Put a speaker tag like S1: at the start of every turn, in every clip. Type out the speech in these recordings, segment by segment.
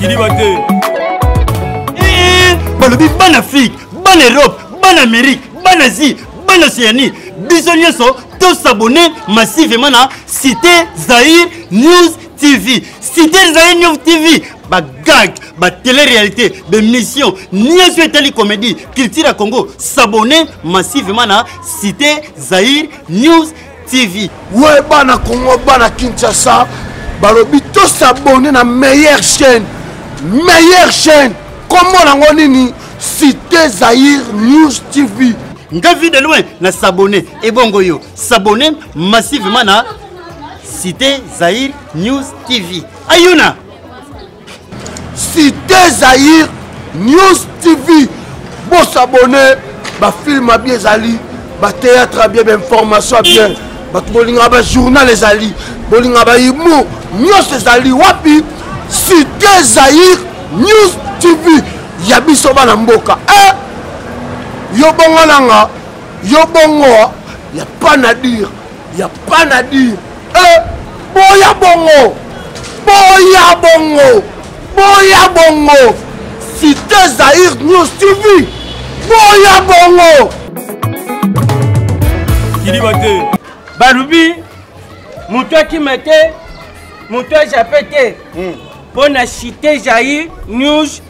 S1: kidiba te eh, balobi bana afrique bana europe bana amérique bana asie bana océanie biso nyonso tosabone massivement na cité zaire news tv cité zaire news tv bagag batele-réalité bemission nyonso etali comédie culture ya congo s'abonne massivement na cité zaire news TV. Ouais, bana
S2: Congo, bana Kinshasa, balobi to s'abonner na meilleure chaîne. Meilleure chaîne. Comment nango nini? Cité Zaïre News TV. Nga vie de loin
S1: na s'abonner. Et bongo yo, s'abonner massivement na Cité Zaïre News TV. Ayuna.
S2: Cité Zaïre News TV bosabone bafilme abi ezali batéâtre abie bainformation abien bato bolingaka bajournal ezali bolingaka bahumour nyonso ezali wapi cité zaïre news tv ya biso bana mboka e eh! yo bongo nanga yo bongo ya pas na dire ya pas na dire eh, boya bongo boya bongo boya bongo site zaire news tv boya bongo
S3: kiliba te balobi moto akima te moto ajape te mpo hmm. na site jair news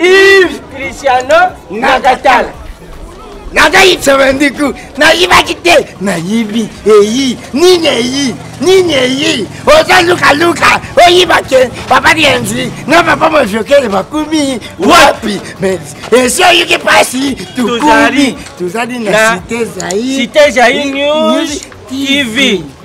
S3: Yves Cristiano Nakatala.
S4: nakayiba ndiku nayibaki te nayibi eyi nini eyi nini eyi oza lukaluka oyiba te papa lienzi na papa mojokele bakumi wapi mais esi oyoki mpasi tukumi tozali na site
S3: zaire tv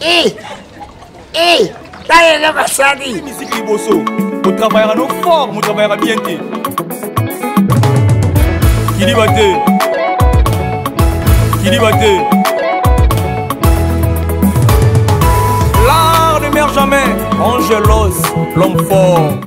S3: Eh!
S4: Eh! Tala eloko asali! Misiki liboso,
S1: otravaillaka no fort, motravaillaka bien te. Kiliba te! Kiliba te! L'art ne meurt jamais, Angelos, l'homme fort.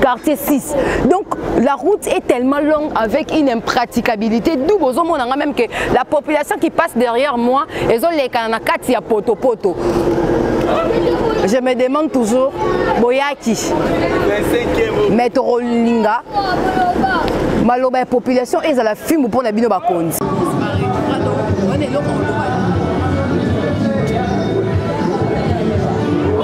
S5: quartier 6 donc la route est tellement longue avec une impraticabilité d'où bozomona nga même que la population qui passe derrière moi ezolekana na kati ya potopoto poto. je me demande toujours boyaki mais tokolinga maloba ya population ezala fimbu mpo na bino bakonzi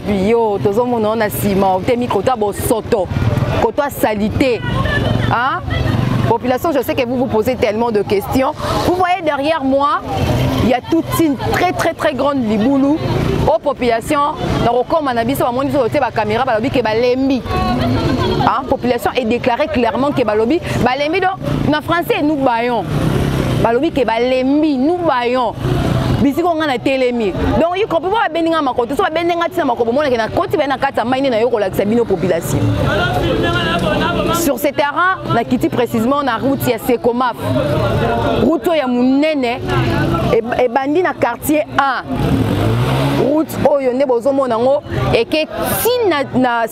S5: wapi yo tozomona yo na sima otemi koto ya bosoto koto ya salite hein? population je sais que vous vous posez tellement de questions vous voyez derrière moi il y a toute une très très très grande liboulou aux populations na kokoma na biso bamoni biso totie bacaméra balobi ke balembi hein? population est déclarée clairement ke balobi balembi donc na français nous bayon balobi ke balembi nous bayon bisiko ngai natelemi donc ikopi mpo babendi ngai makoto so babendi ngai ntina makobo omonake nakoti baye na kati ya mai nde nayo kolakisa bino population sur ce terrain nakiti précisement na route ya secomaf route oyo ya monene ebandi na quartier 1 route oyo nde bozomona yango eke ti na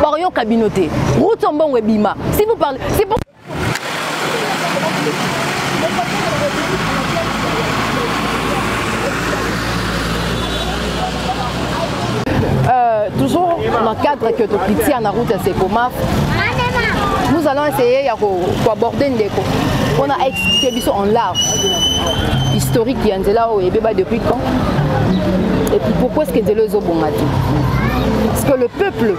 S5: bakoyoka bino te route ya mbongo ebima si vous parlez si vous... Euh, toujours dans le cadre que tokiti na route ya sekomaf nous allons essayer ya koaborde ndeko mpona aexplike biso en large historique ya nzela oyo ebeba depuis quand et puis pourquoi est ce que nzela ezobonga te que le peuple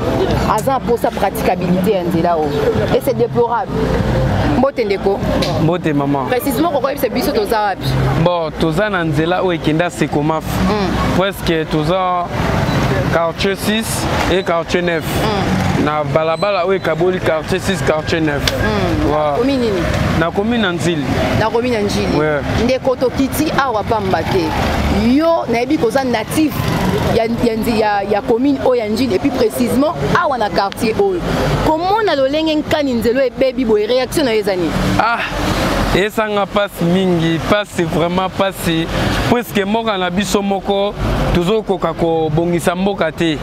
S5: aza mposa praticabilité ya nzela oyo et c'est déplorable mbote ndeko mbote mama
S6: précisement kokoyebisa biso
S5: toza wapi bon toza na
S6: nzela oyo ekenda sekomaf mm. presque toza quartier 6 et quartier 9 mm. na balabala oyo ekaboli quartier 6 quartier 9 mm. wow. komi nini nakomi na nzili nakomi na njili
S5: yeah. ndeko
S6: tokiti
S5: awa pamba te yo nayebi koza na actif ya, ya, ya, ya commune oyo ya njini epuis précisement awa na quartier oyo komona lolenge nkani nzelo ebebi boye réaction na yo eza nini ah.
S6: esanga mpasi mingi mpasi vraiment mpasi puiske mboka na biso moko tozokoka kobongisa mboka te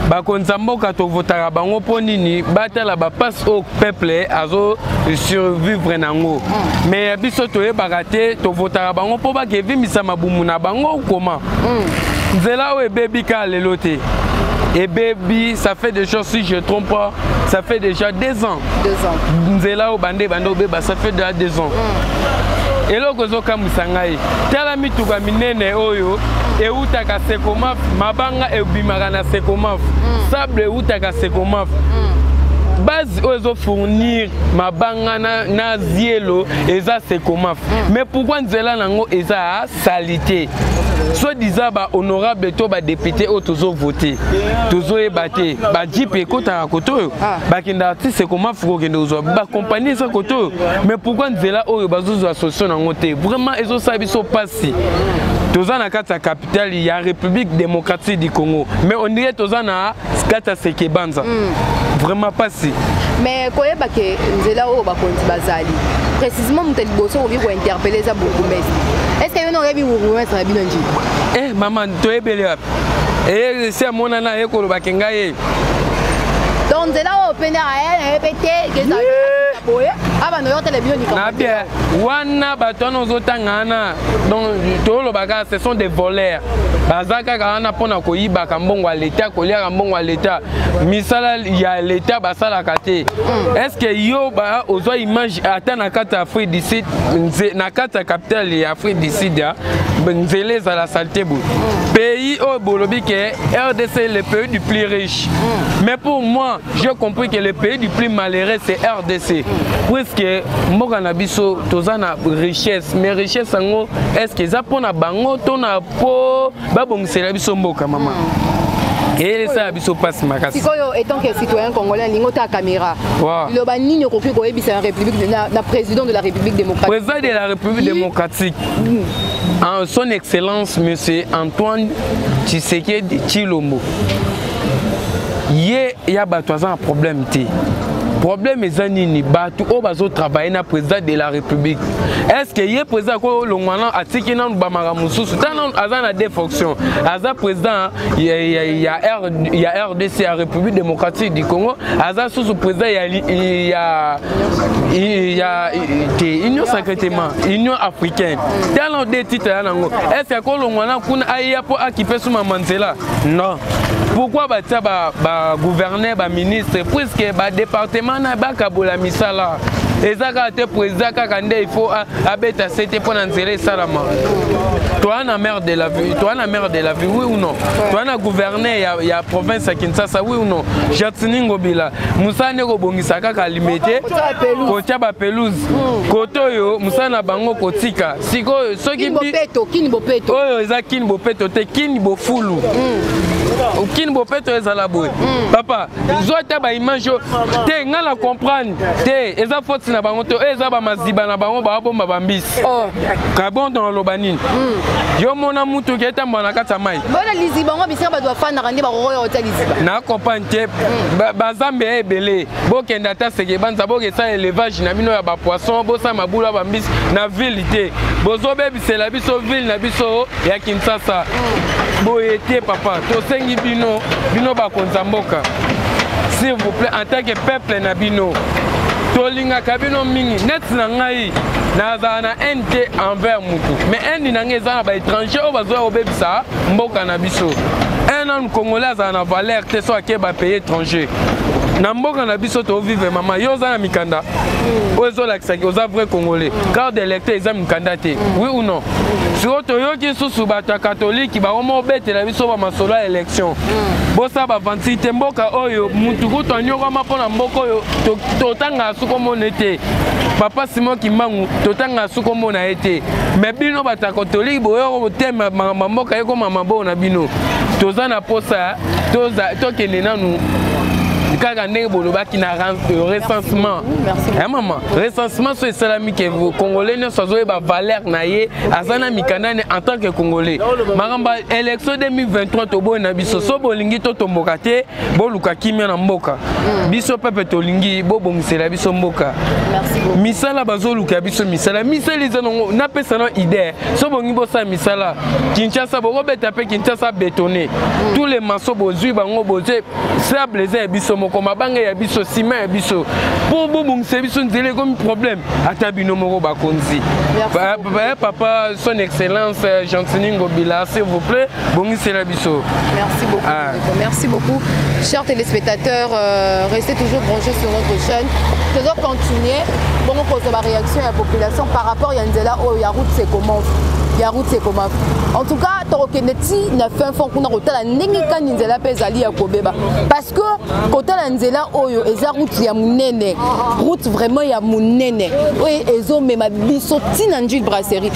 S6: bakonzi ya mboka tovotaka bango mpo nini batala bapasi oyo peple azo survivre nango mm. mais ya biso toyebaka te tovotaka bango mpo bakevimisa mabumu na bango koma mm. nzela oyo ebebi kaka lelo te ebebi ça fait déjà si je trompe pas ça fait déjà deux ans
S5: nzela oyo bande bande
S6: obeba ça fait déjà deux ans mm. eloko ezokamwisa ngai tala mituka minene oyo ewutaka sekomaf mabanga ebimaka na sekomaf mm. sable ewutaka sekomaf mm. oyo ezo fournir mabanga na, na zielo eza sekomaf mm. mais pourquoi nzela nango eza ya salite soit disant bahonorable to badepute oyo tozovote tozoyeba te bajipe ekotaka kote oyo ah. bakendaka ti sekomafu kokende kozwa bakompani eza kote oyo mais pourkui nzela oyo bazozwa solution nango te vraiment ezosala biso mpasi toza na kati ya capitale ya république démocratique du congo mais ondire toza na Skata seke banza. Mm. Vraiment pasi. Mais koyeba
S5: ke nzela oyo bakonzi bazali. Précisément moto liboso okoki ko interpeller eza bourgmestre. Est-ce que yo na oyebi bourgmestre na bino nji? Eh maman
S6: toyebeli wapi? Eh si amona na ye koloba ke ngai ye.
S5: Donc nzela oyo pene aya na ye pe te kezali boye abanda yo tele bino likambo. Na bien.
S6: wana bato wana ozotanga wana donc toloba kaka ce sont des voleurs baza kaka wana mpo na koyibaka mbongo ya leta koliaka mbongo ya leta misala ya leta basalaka te hmm. est ce que yo ozwa image ata na kati ya afrique du sud na kati ya capitale ya afrique du sud nzela ezala salite boye hmm. pays oyo bolobi ke rdc le pays du plus riche hmm. mais pour moi j'ai compris que le pays du plus malheureux c'est rdc puisque mboka na biso toza na richesse mais richesse yango est ce que eza mpo na bango to na mpo babongisela biso mboka mama eyelesa ya biso mpasi makasi sikoyo etant que citoyen
S5: congolais alingi ota caméra liloba nini okoki koyebisa na république na président de la république démocratique président de la république
S6: démocratique mm. son excellence monsieur antoine tshisekedi tshilombo ye ya bato aza na problème te problème eza nini bato oyo bazotravaille na président de la république est ce que ye président akoki olongwa nano atiki nano bamaka mosusu ta nano aza na deux fonction aza président ya, ya, ya, R, ya rdc ya république démocratique du congo aza susu président ya, ya, ya te union secrètement union africaine ta nano deux titre ya nango est ce que akolongwa na kuna ayeya mpo akipe suma manzela non pourquoi batia bagouverneur ba baministre puiske badepartement na bakabola misala eza kaka te président kaka nde il faut abeta sete mpo na nzela esalama toa na maire de la ville toa na maire de la ville oui ou non toa na gouverneur ya, ya province ya kinshasa oui ou non jatini ngobila mosala nde kobongisa kaka limete kotia bapelouse kote oyo mosala na bango kotika sikoyo soki
S5: oyo eza kini bopeto
S6: te kini bofulu mm. okini bopeto ezala boye mm. papa zwa ata baimage oyo te ngai na comprendre te eza foti na bango te oyo eza bamaziba na bango baabomba bambisi oh. kabondo naloba nini mm. yo mona mutu oke etambola na kati ya mai bona liziba yango bisika
S5: bato bafandaka nde bakokoya kotya liziba na comprendre te
S6: bazambe ya ebele bokende ata sekebanza bokesala elevage na bino ya bapoisson bosala mabulu ya bambisi na ville te bozobebisela biso ville na biso ya kinshasa boye te papa tosengi bino bino bakonzi ya mboka s'il vous plaît en tant que peuple na bino tolingaka bino mingi neti na ngai nazala na haine te envers motu mais haine na ngai eza na baétranger oyo bazoya kobebisa mboka na biso un homme congolais azala na valeur te so ake bapaye étranger na mboka na biso tovivre mama yo oza na mikanda mm. oyo ezolakisaki oza vrai congolais mm. carte d'électeur eza mikanda te mm. oui ou non sikoyo toyoki nsusu bato ya katolike bakoma obetela biso bamasolo ya élection bosala bavansi te mboka oyo motu kutu anyokwama mpo na mboka oyo totangaka sukomona ete papa simon kimbangu totangaka sukomona ye te me bino bato ya katolike boyoko botema makambo ya mboka ekoma maboo na bino toza na mposa tokende nanu kaka ndenge bolobaki na euh, recensement ya mama recensement so esalami ke congolais nyonso azoyeba valeur na ye aza na mikanda ne en tant que congolais makambo ya élection 2023 toboi na biso so bolingi totomboka te boluka kimia na mboka mm. biso pepe tolingi bobongisela biso mboka misala bazoluka biso misala misala eza nango napesa na idee so bongi bosala misala kinshasa bokobeta mpe kinshasa betone mm. tous les maso bozwi bango bozwi sable eza ya biso moko mabanga ya biso sima ya biso mpo bobongisa biso nzela ekomi problème ata bino moko bakonzi papa son excellence euh, gentini ngobila s'il vous plaît bongisela biso merci beaucoup ah.
S5: merci beaucoup chers téléspectateurs euh, restez toujours branchés sur notre chaîne tozo continuer bongo kozwa baréaction ya population par rapport ya nzela oyo ya route sekomov ya route sekomov en tout cas tokokende ti na fin fond kuna kotala ndenge kani nzela mpe ezali ya kobeba parce que kotala nzela oyo eza route ya monene route vraiment ya monene oyo ezomema biso ti na njile brasserie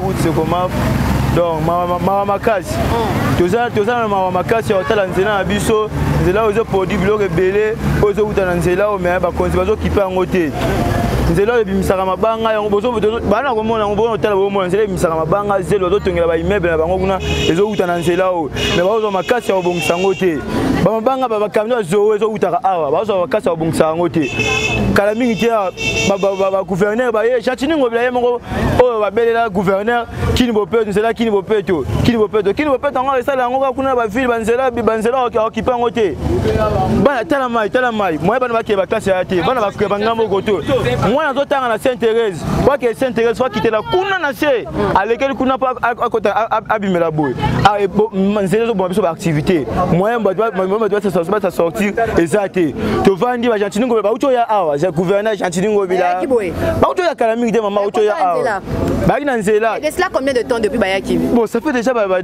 S7: utsekomaf donc mawa makasi hmm. toza na mawa makasi ya kotala nzela na biso nzela oyo ezoproduit biloko ebele oyo ezowuta na nzela oyo me bakonzi bazokipe yango te nzela oyo ebimisaka mabanga yango bana na komona yango bona otala bomona nzela ebimisaka mabanga zelo bazotongela baimmeuble na bango kuna ezowuta na nzela oyo me bakozwa makasi ya kobongisa yango te bamabanga bakamio ya zoo ezowutaka awa bazwa makasi ya kobongisa yango te kala mingi te bagouverneur baye jatiningo bila ye moko oyo babelela gouverneur kini bopeto nzela kini bopeto kini bopeto kini bopeto yango esala yango kaka kuna na bavile banzela banzela okipe yango te bana tala mai tala mai moye bana bakee baklase ya te bana bakee bangambo oko to mwana azotanga na saint thérèse bakee saint thérèse fakitela kuna na se alekeli kuna mpo abimela boye ah, e, nzela ezoboma biso baactivité moyen bato basortir eza te tovandi bagentini ngobe bauti oya awa gouverneur gentini ngobila bauti oya kala mingi te mama auti oya awa bayaki na nzela de cela combien de temps depuis
S5: bayaki bon ça fait déjà ba
S7: ba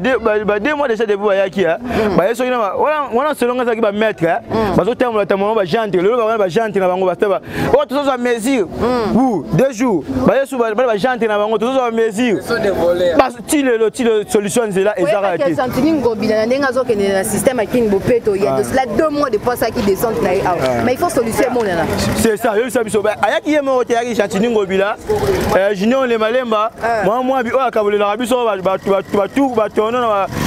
S7: deux mois déjà depuis bayaki hein hmm. baye soki na wana wana selon nga zaki ba maître hein hmm. bazo tambola tambola ba gente lelo ba ba gente na bango ba staba oh tous ça mesure hmm. ou deux jours baye sous ba ba gente na bango tous ça mesure ti lelo ti lelo solution nzela ezaka te santini ngobila na ndenge
S5: azokende na système ya king bopeto ya de cela deux mois depuis asaki descente na ye awa mais il faut solution emonana c'est ça yebisa biso
S7: ayaki ye moko te ayaki santini ngobila eh, junior le malemba mwa mwa bi oyo akabolelaka biso batu batono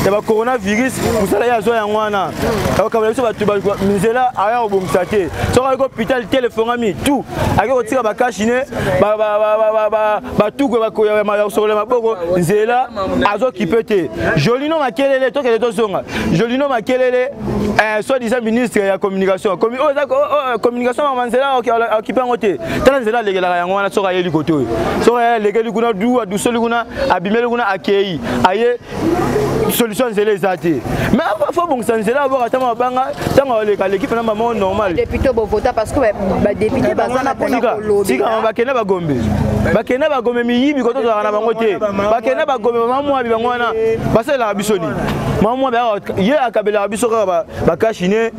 S7: ya bacoronavirus mosala ye azwa yango wana akabolela biso batu nzela aya kobongisa te soki ayaki hôpital telefongami tout ayaki kotika bakashine batukwe bakoyakosokola maboko nzela azokipe te jolino makelele tokende tozonga jolino makelele eh, soit disant ministre ya communication oh, oh, oh, communication mama nzela akipe yango te tala nzela alekelaka yango wana soki ayeli kote oyo soki alekeli kuna du adusoli kuna abimeli kuna akei aye solution ya nzela eza te mais fo bongisa nzela abwaka ntango abanga ntango aleka aleki mpena mama normal député bovota parce
S5: que badéputé eh, baza na mpona kolobela bakenda bagombe
S7: bakenda bagombe miyibi koto tozalaka na bango te bakenda bagombe mamwabi bango wana basalelaka biso nini mamwabi ye akabelaka biso kaka bakashine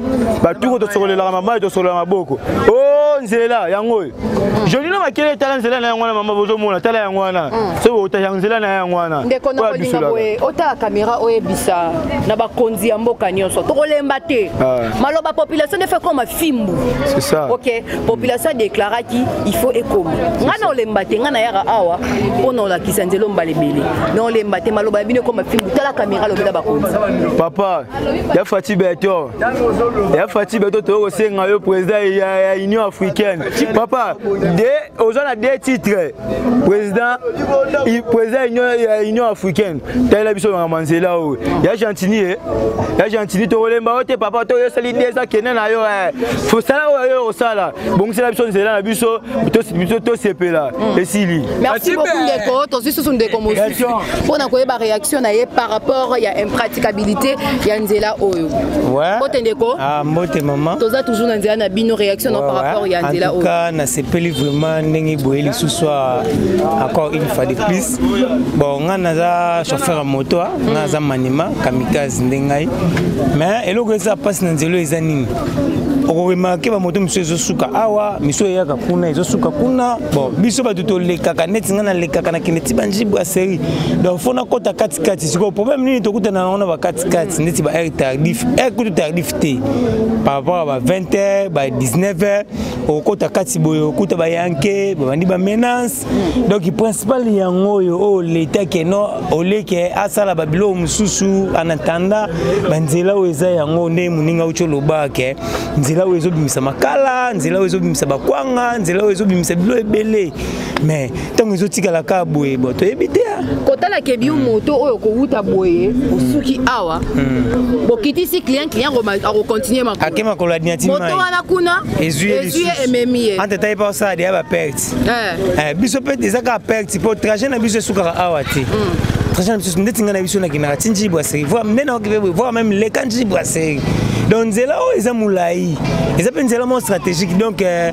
S7: batuko tosokolelaka mabali tosokolelaka maboko o oh, nzela yango oyo joli na makele etala nzela na yango wana mama bozomona tala yango wana mm. soki otaya nzela na yango wana ndeko na kolinga boye
S5: otala kamera oyebisa na bakonzi ya mboka nyonso tokolemba te ah. maloba population nde fekoma fimbu ok
S7: population
S5: adeklaraki il faut ekoma ngai na olemba te ngai nayaka awa mpo na olakisa nzela ombala ebele na olemba te maloba ya bino ekoma fimbu tala kamera lobela bakonzi papa
S7: ya fati beto ya fati beto toyo kosenga yo président ya, ya union africaine papa de oza na deux titres président président union, ya union africaine talela biso makambo nzela oyo ya gentini ye ya gentini tokolemba yo te papa toyosali deux akende na yo eh. fosala oyo yo osala bongisela biso nzela na biso tosepela hmm. esili merci beaucoup ndeko
S5: tozwi susu ndeko mosusu mpo na koyeba réaction na ye par rapport ya impraticabilité ya nzela oyo mbote ndeko
S4: ah,
S5: mbote mama
S4: toza toujours na nzela na
S5: bino réaction na par rapport ya nzela oyo ka nasepeli
S4: vraiment ndenge boye lisusu encore une fois de plus bon ngai naza chauffeur ya moto ah. ngai naza manima kamikaze nde ngai mais eloko eza mpasi na nzela eza nini okoremake bamoto mosusu ezosuka awa misu eyaka kuna ezosuka kuna bon biso bato tolekaka neti ngai nalekaka nakende ti banjibu ya serie donc fo nakɔta katikati sikoyo problème nini tokutana nango na bakatikati neti ba aire tardif aire kutu tardif te par rapport ya ba 20 heure ba 19 heure okokɔta kati boye okuta bayanke babandi bamenance place donc principal yango oyo oyo oh, leta keno oleke asala babiloko mosusu en attendant banzela oyo eza yango nde moninga uti olobaka ke nzela oyo ezobimisa makala nzela oyo ezobimisa bakwanga nzela oyo ezobimisa bilo ebele mais ntango ezotikala kaka boye bo toyebi te ah. kotala kebi yo
S5: moto oyo kowuta boye osuki awa hmm. bokitisi client client akocontinue makolo akema koloadinati moto
S4: wana kuna
S5: ezwi ye ememi ye ante taye pa osala deya
S4: baperte perte eh. Eh, biso perte eza kaka perte mpo trajet na biso esukaka awa te mm. trajet na biso ndeti ngai na biso nakendaka ti njiyi brasserie voir nde naokipe boye voir même leka njiyi brasserie donc nzela oyo eza molai eza mpe nzela moko stratégique donc euh,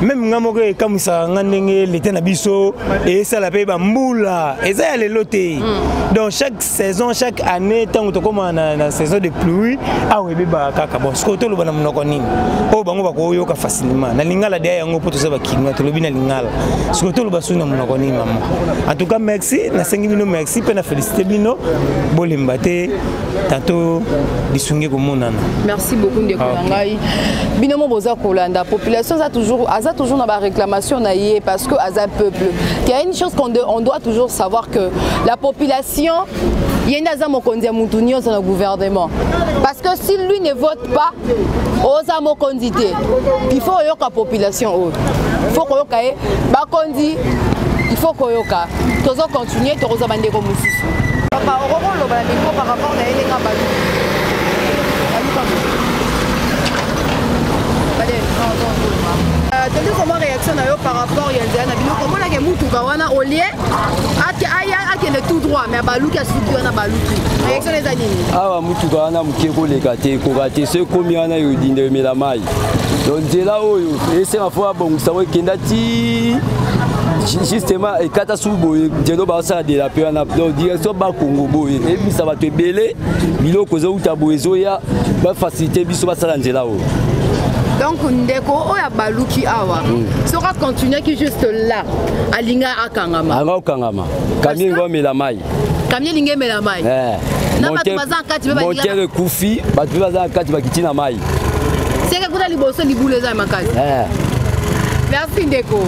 S4: meme ngai moko ekamwisaka ngai ndenge leta na biso esala mpe bambula eza ya lelo te mm. donc chaque saison chaque année ntango tokóma na, na saison de pluie awa ebebaka kaka bon sikoyo toloba na monoko nini oyo bango bakoyoka facilement na lingala deya yango mpo toza bakinois tolobi na lingala sikoyo toloba soki na monoko nini mama en tout cas merci nasengi bino merci mpe na félicité bino bolemba te tanto lisungi ekomonana merci beaucoup ndeko na
S5: ah, ngai bino mo boza kolanda population aza toujours, aza toujours na baréclamation na ye parce que aza peuple qu'il y a une chose qu'on on doit toujours savoir que La population ye nde aza mokonzi ya motu nyonso na gouvernement parce que si lui ne vote pas oza mokonzi te il faut oyoka population oyo il faut koyoka ye bakonzi il faut koyoka tozo continue tokozwa bandeko mosusu papa okoki koloba na micro par rapport na ye ndenge abali tondi komwa réaction na yo par rapport ya nzela na bino komonake motuka wana olie akende tout droit mais abaluki asuki wana baluki élection eza nini awa motuka wana
S8: moke koleka te ekoka te so ekomi wana yodinda yomela mai to nzela oyo esenga fo abongisa ngo ekenda ti justement ekata su boye jeno basala de la pe wana donc direction bakongo boye ebimisa bato ebele biloko ezouta boye ezoya bafacilité biso basala nzela oyo donc
S5: ndeko oyo abaluki awa mm. soki acontinuaki juste là alinga akangama anga okangama
S8: kamie ngo amela mai kamie elingi emela
S5: mai eh. na bato baza na kati motere ekufi
S8: bato mpe baza na kati bakiti na mai seke kuna
S5: liboso libulu eza ya makasi eh. merci ndeko